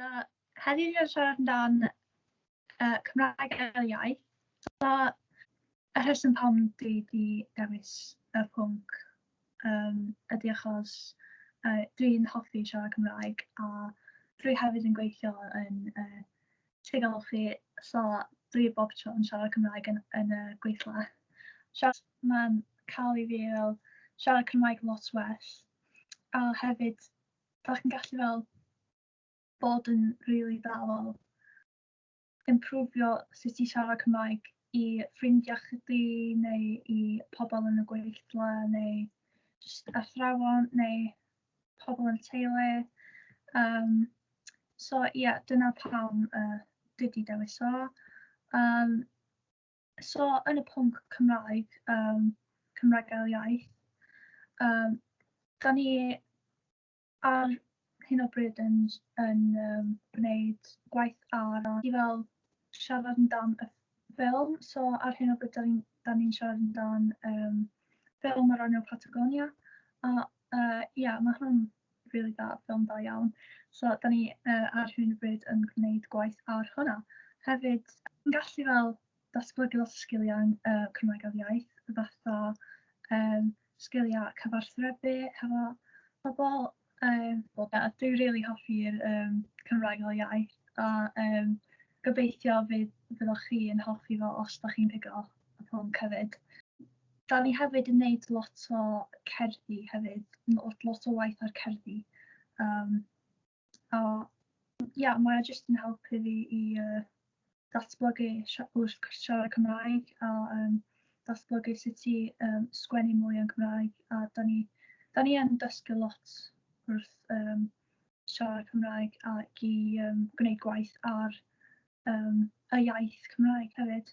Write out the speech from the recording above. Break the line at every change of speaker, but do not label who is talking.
So, heddiw ni wedi siarad amdan uh, Cymraeg fel iaith. So, y rheswm pam dwi wedi dewis y pwnc um, ydy achos uh, dwi'n hoffi siarad Cymraeg a dwi hefyd yn gweithio yn uh, Ti'n galw chi, so dwi bob tro yn siarad Cymraeg yn, yn y gweithle. Siarad, mae'n cael i fi fel siarad Cymraeg lot well. A hefyd, da chi'n gallu fel bod yn rili really dda fel improfio sut i siarad Cymraeg i ffrindiau chdi neu i pobl yn y gweithle neu just athrawon neu pobl yn y teulu. Um, so ie, yeah, dyna pam uh, dwi wedi dewis o. Um, so yn y pwnc Cymraeg, um, Cymraeg gael iaith, um, da ni ar hyn o bryd yn, yn um, gwneud gwaith ar a i fel siarad amdan y ffilm. So ar hyn o bryd, da ni'n ni siarad amdan um, ffilm ar ran Patagonia. A Uh, yeah, mae hwnna'n really da, ffilm da iawn. So, da ni uh, ar hyn o bryd yn gwneud gwaith ar hwnna. Hefyd, yn gallu fel datblygu lot o sgiliau uh, Cymraeg ar iaith, fatha um, sgiliau cyfarthrebu hefo pobl. Um, well, yeah, dwi'n really hoffi'r um, Cymraeg ar iaith a um, gobeithio fydd, fydd chi yn hoffi fo os da chi'n pigo y pwnc hefyd. Da ni hefyd yn neud lot o cerddi hefyd, lot, lot o waith ar cerddi. Um, a ia, mae jyst yn helpu fi i uh, datblygu wrth siarad Cymraeg a um, datblygu sut i um, sgwennu mwy yn Cymraeg. A da ni, da ni yn dysgu lot wrth um, siarad Cymraeg ac i um, gwneud gwaith ar um, y iaith Cymraeg hefyd.